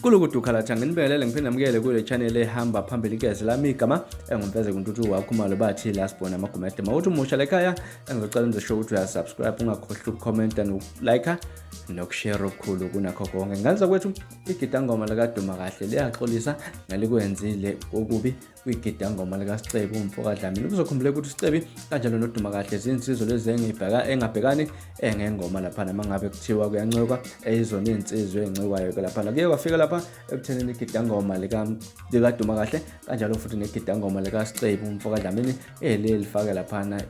kuloku dukhalatha nginibelele ngiphinde namukele kule channel ehamba phambili igezi lami igama engumfeze kuntuthu wakhumalo bathi last born amagumede mawuthi umusha lekhaya engizocela nizosho ukuthi uyasubscribe ungakhohlwa ukukhomenta nokulike nokushare okukhulu kunakho konke ngenza kwethu igidangoma likaduma kahle liyaxolisa ngelikwenzile okubi kwigidangoma likasicebi umfo kadlamini kuzokhumbuleka ukuthi usicebi kanjalo noduma kahle zinsizwa lezi engabhekani eh, ngengoma laphana uma ngabe kuthiwa kuyancwekwa eyizona eh, iy'nsizwa ey'ncikwayo-ke laphana kuye kwafika lapha ekuthenini igidangoma likaduma kahle kanjalo futhi negidangoma likasicebi umfo kadlamini eliye eh, lifake laphana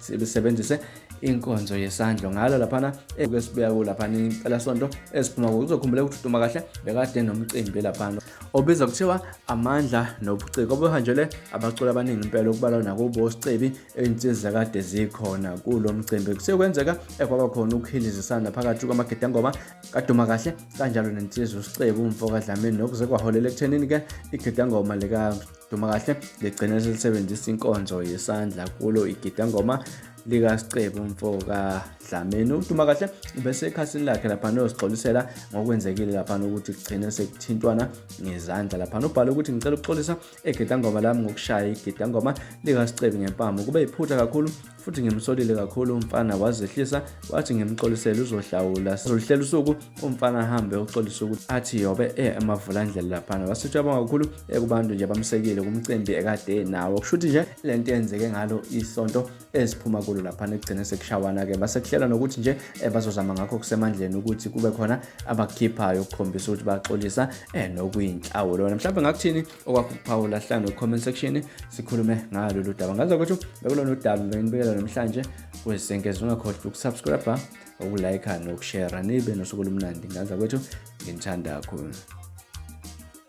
lisebenzise inkonzo yesandlo ngalo laphana ekuke sibuya kulaphana impelasonto esiphuma kuzokhumbuleka ukuthi uduma kahle bekade nomcimbi laphana obizwa kuthiwa amandla nobuciko obuhanjelwe abaculi abaningi impela okubalwa nakubo sicebi ey'nsiza kade zikhona kulo mcimbi kusekwenzeka ekwaba khona ukuhilizisana phakathi kwamagedangoma kaduma kahle kanjalo nensizwa usicebu umfo kadlamini nokuze kwaholela ekuthenini-ke igedangoma likaduma kahle ligcine selisebenzisa inkonzo yesandla kulo igedangoma likasicebo mfo kadlameni uduma kahle bese ekhasini lakhe lapha noyosigxolisela ngokwenzekile lapha ukuthi kugcine sekuthintwana ngezandla lapha nobhala ukuthi ngicela ukuxolisa egedangoma lami ngokushaya igedangoma likasicebo ngempama kube yiphutha kakhulu futhi ngimsolile kakhulu umfana wazehlisa wathi ngimxolisele uzohlawula sizoluhlela usuku umfana ahambe uxolisa ukuthi athi yobe e emavulandlela laphana wasitshaba kakhulu ekubantu nje bamsekile kumcimbi ekade nawo kusho ukuthi nje le nto yenzeke ngalo isonto eziphuma kulo laphana ekugcine sekushawana-ke basekuhlela nokuthi nje eh, bazozama ngakho kusemandleni ukuthi kube khona abakukhiphayo ukukhombisa ukuthi baxolisa um nokuyinhlawulo lona mhlawumbe ngakuthini okwakuphawula hlanu kwi-comment section sikhulume ngalolu daba ngazi ukuthi bekulona udaba benginibikela namhlanje kwezisenkezi ungakhohlwa ukusubscribe ukulike nokushera nibe nosuku olumnandi ngaza kwethu nginithanda kakhulu